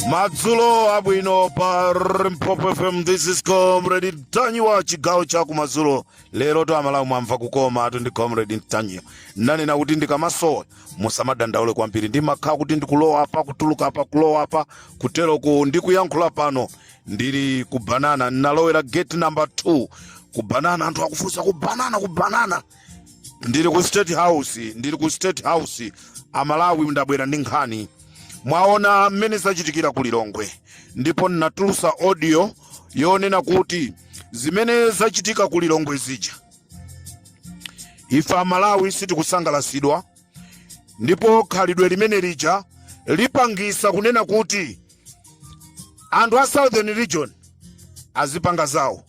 madzulo abwino pa Limpopo fm this is comrade mtanyiwa chigawo cha kumadzulo lero to amalawi mwamva kukomatu ndi comrade mtanyiwa nanena kuti ndikamasowa musamadandaule kwambiri ndimakhala kuti ndikulowa apa kutuluka apa kulowa apa kuteroku ndikuyankhula pano ndili ku banana ndinalowera gate number 2 ku banana anthu akufunsa ku banana ku banana ndili ku state house ndili ku state house amalawi ndabwera ndi nkhani mwaona mmene zachitikira ku lilongwe ndipo ndinatulusa audio yonena kuti zimene zachitika ku lilongwe zija ife amalawi sitikusangalasidwa ndipo khalidwe limene lija lipangisa kunena kuti anthu a southern region azipanga zawo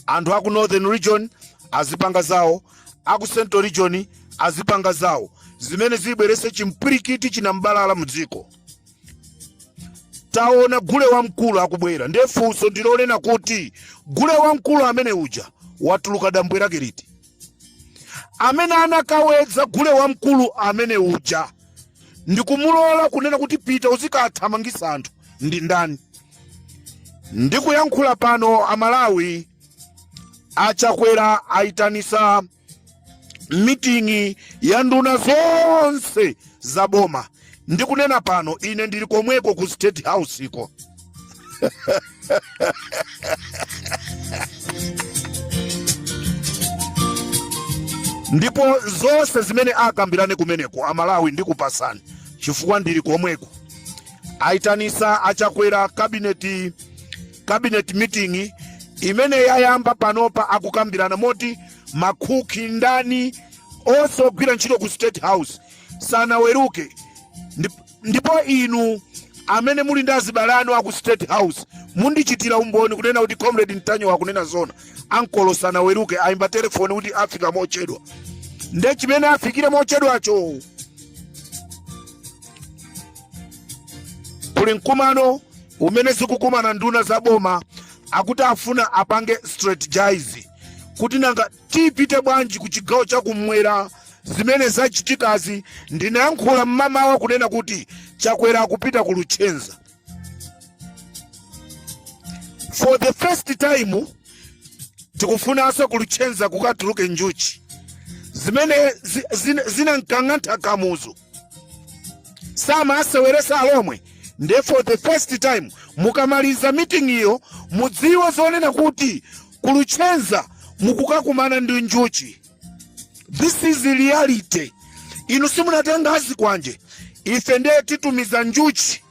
anthu aku northern region azipanga zawo aku central region azipanga zawo zimene zibwerese chimpwirikiti chinambalala mu dziko taona gule wamkulu akubwera ndiye funso ndilonena kuti gule wamkulu amene uja watuluka dambwe lake liti amene anakawedza gule wamkulu amene uja ndikumulola kunena kuti pita uzikathamangisa anthu ndi ndani ndikuyankhula pano amalawi achakwera ayitanisa miting'i ya nduna zonse za boma ndikunena pano ine ndili komweko ku state house iko ndipo zonse zimene akambirane kumeneko amalawi ndikupasani chifukwa ndili komweko aitanisa achakwera kabineti cabinet meeting imene yayamba panopa akukambirana moti makhuki ndani onse ogwira ntchito ku state house sanaweruke ndipo inu amene muli ndi azibale anu aku state house mundichitira umboni kunena kuti comrade mtanyiwa akunena zona ankolo sanaweruke ayimba telefoni kuti afika mochedwa nde chimene afikire mochedwacho kuli mkumano umene zikukumana nduna za boma akuti afuna apange strategize kuti nanga tipite bwanji ku chigawo chakumwera zimene zachitikazi ndinayankhula mmamawa kunena kuti chakwera akupita ku luchenza for the first time tikufunanso ku luchenza kukatuluke njuchi zimene zi- zina- zinankang'antha kamuzu samaseweresa alomwe nde for the first time mukamaliza meeting iyo mudziwe zonena kuti ku Luchenza mukukakumana ndi njuchi this is reality inu simunatenga azikwanje ife ndiye titumiza njuchi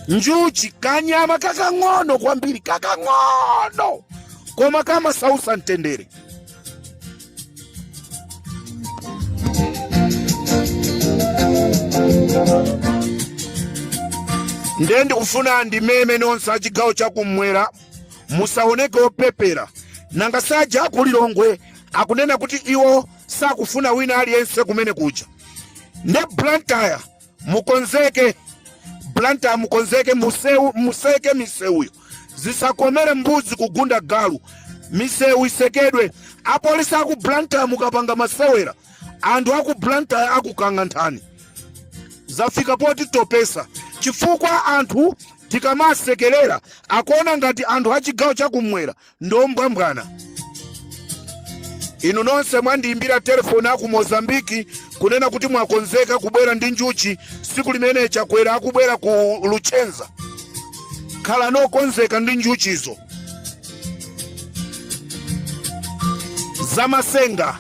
njuchi kanyama kakang'ono kwambiri kakang'ono koma kamasausa mtendere nde ndikufuna ndimeme nonse achigawo chakumwera musaoneke opepera nanga saja aku Lilongwe akunena kuti iwo sakufuna wina aliyense kumene kuja nde blantyre mukonzeke Blantyre mukonzeke museke miseuyo zisakomere mbuzi kugunda galu miseu isekedwe apolisi aku Blantyre mukapanga masewera anthu aku Blantyre akukang'anthani zafika poti topesa chifukwa anthu tikamasekerera akuona ngati anthu a chigawo chakumwera ndi ombwambwana inu nonse mwandiyimbira telefoni aku mozambiki kunena kuti mwakonzeka kubwera ndi njuchi siku limene chakwera akubwera ku luchenza khalani okonzeka ndi njuchizo zamasenga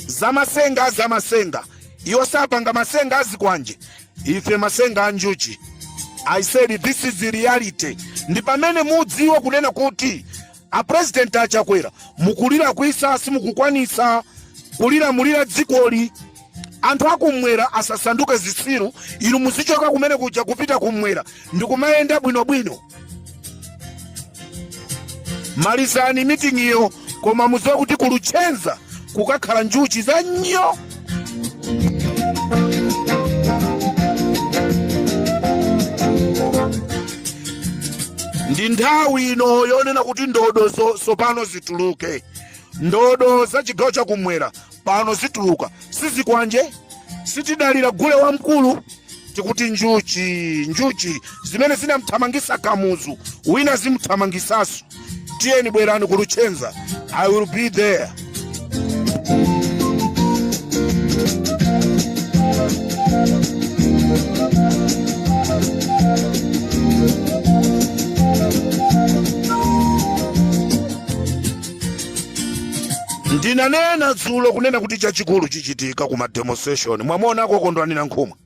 zamasenga zamasenga iwo sapanga masenga azikwanje ife masenga a njuchi i said this is the reality ndi pamene mudziwe kunena kuti a president achakwera mukulilakwitsa simukukwanisa kulilamulira dzikoli anthu akumwera asasanduke zitsiru inu muzichoka kumene kuja kupita kumwera ndikumayenda bwinobwino malizani miting'iyo koma mudziwe kuti ku Luchenza kukakhala njuchi za nyo ndi nthawi ino yonena kuti ndodo tsopano zituluke ndodo za chigawo chakumwera pano zituluka sizikwanje sitidalira gule wamkulu tikuti njuchi njuchi zimene zinamthamangisa kamuzu wina zimthamangisaso tiyeni bwerani ku Luchenza i will be there ndinanena dzulo kunena kuti chachikulu chichitika ku mademonstration mwamuna akokondwanira nkhumwa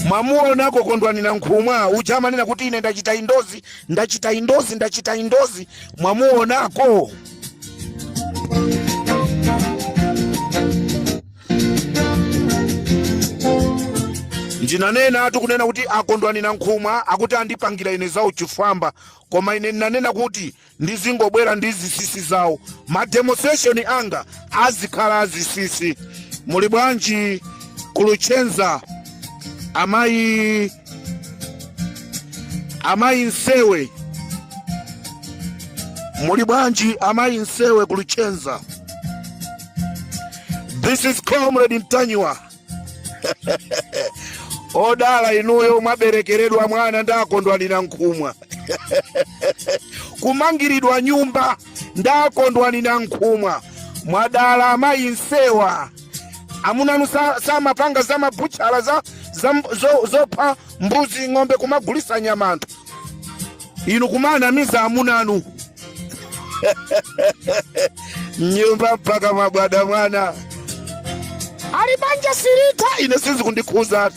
mwamuona akokondwanira nkhumwa uja amanena kuti ine ndachita endorse ndachita endorse ndachita endorse mwamuonako ndinanenatu kunena kuti a kondwani nankhumwa akuti andipangira ine za uchifwamba koma ine ndinanena kuti ndizingobwera ndi zisisi zawo mademonstration anga azikhala azisisi muli bwanji ku luchenza amayi amayi nsewe muli bwanji amayi nsewe ku luchenza this is comrade ntanyiwa odala inuyo mwaberekeredwa mwana nda kondwani nankhumwa kumangiridwa nyumba nda kondwani nankhumwa mwadala amayi nsewa amunanu sa- samapanga za mabutchala za za mb- zo- zopha mbuzi ng'ombe kumagulisa nyama anthu inu kumanamiza amunanu nyumba mpaka mabwada mwana ali banja silitha ine sizikundikhuza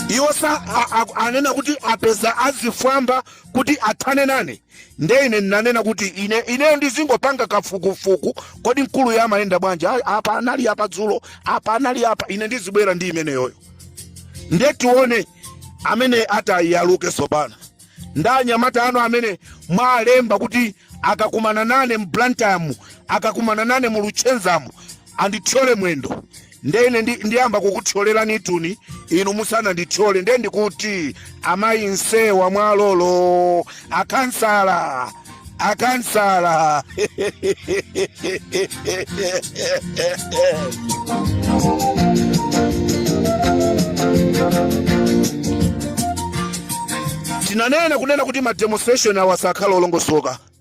iwo sa a- a- anena kuti apeza azifwamba kuti athane nane nde ine ndinanena kuti ine ineyo ndizingopanga kafukufuku kodi mkuluyu amayenda bwanji Ah, apa anali apa dzulo apa anali apa ine ndizibwera ndi imeneyoyo nde tione amene atayaluke sopano nda anyamata anu amene mwalemba kuti akakumana nane mu blantyremu akakumana nane mu luchenzamu andithyole mwendo nde ine ndi- ndiyamba kukuthyolelanitu inu musanandithyole nde ndikuti amayi nsewa mwalolo akansala akansala tinanena kunena kuti mademonstration awa sakhala olongosoka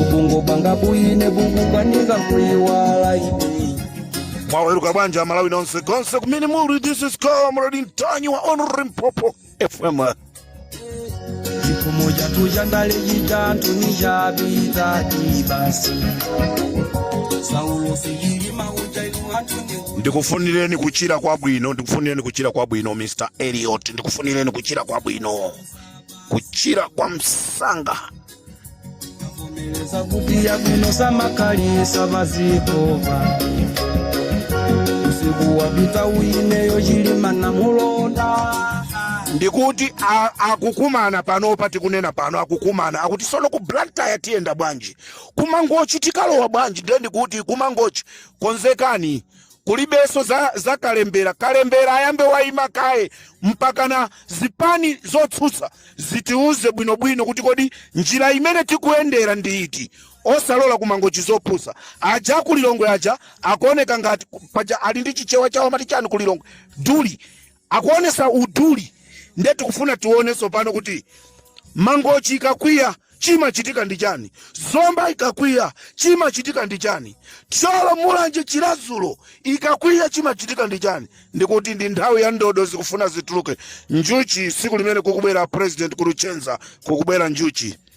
ubungo bwanga buyine bukukwanika kuyiwala ine mwaweruka bwanji amalawi nonse konse kumene muli this is comrade ntanyiwa on limpopo fm chipfumo chathu cha ndale chitanthu ni chapita tibasi saulosi chilima uchailu athu ni ndikufunireni kuchira kwabwino ndikufunireni kuchira kwabwino mr eliot ndikufunireni kuchira kwabwino kuchira kwa msanga Avomereza kuti yabwino samakalisa vazikova usiku wapita uyineyo chilima namulonda ndikuti a- akukumana panopa tikunena pano akukumana akuti sono ku blantyre tiyenda bwanji kumangochi tikalowa bwanji ndiye ndikuti kumangochi konzekani kulibeso za kalembera kalembera ayambe waima kaye mpakana zipani zotsutsa zitiuze bwinobwino kuti kodi njira imene tikuyendera ndi iti osalola kumangochi zopusa aja akulilongwe aja akuoneka ngati paja ali ndi chichewa chawo amati chani kulilongwe duli Akuonesa uduli nde tikufuna tione tsopano kuti Mangochi ikakwiya chimachitika ndi chani? Zomba ikakwiya chimachitika ndi chani? Thyolo, Mulanje, Chiradzulu ikakwiya chimachitika ndi chani? Ndikuti ndi nthawi ya ndodo zikufuna zituluke njuchi tsiku limene kukubwera president ku Luchenza kukubwera njuchi.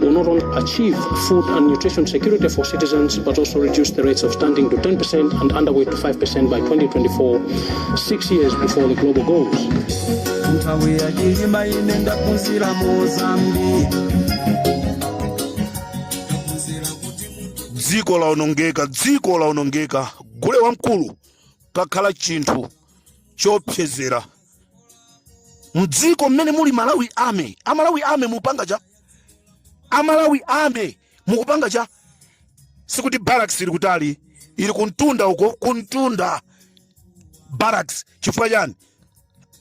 will not only achieve food and nutrition security for citizens, but also reduce the rates of stunting to 10% and underweight to 5% by 2024, six years before the global goals. nthawi yachilima ine ndaphunzira mozambi dziko laonongeka dziko laonongeka gule wamkulu kakhala chinthu chopsezera mdziko mmene muli malawi army amalawi army mupanga cha amalawi army mukupanga cha sikuti barracks ili kutali ili kumtunda uko kumtunda barracks chifukwa chani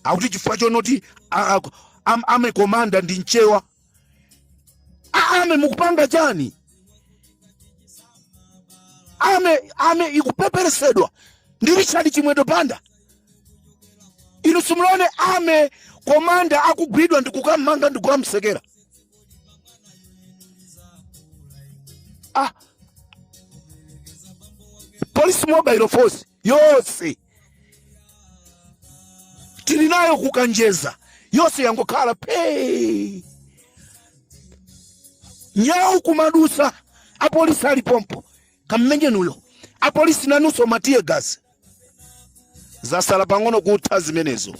akuti chifukwa chonoti a- a- am- army commander ndi mchewa A- army mukupanga chani army army ikupeperesedwa ndi richard chimwendo banda inu simulone army commander akugwidwa ndikukammanga ndikukamsekera ah, police mobile force yonse tili nayo kukanjeza yonse yangokhala phee nyawu kumadusa apolisi ali pompo kammenyeni uyo apolisi nanunso ma tear gas zasala pang'ono kutha zimenezo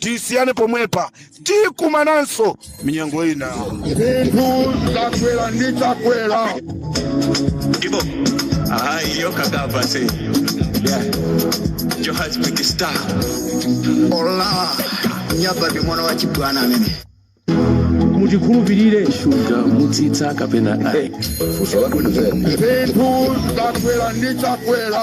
Tisiyane pomwepa tikumananso minyengo ina. Zinthu zakwera ndi chakwera. Ibo. Ah, yo kagaba say. Yeah. Johannesburg star. Ola. Nyaba ndi mwana wa chibwana amene. mutikhulupirire shuga mutsitsa kapena ayi funso la bwino zeni zinthu zakwera ndi chakwera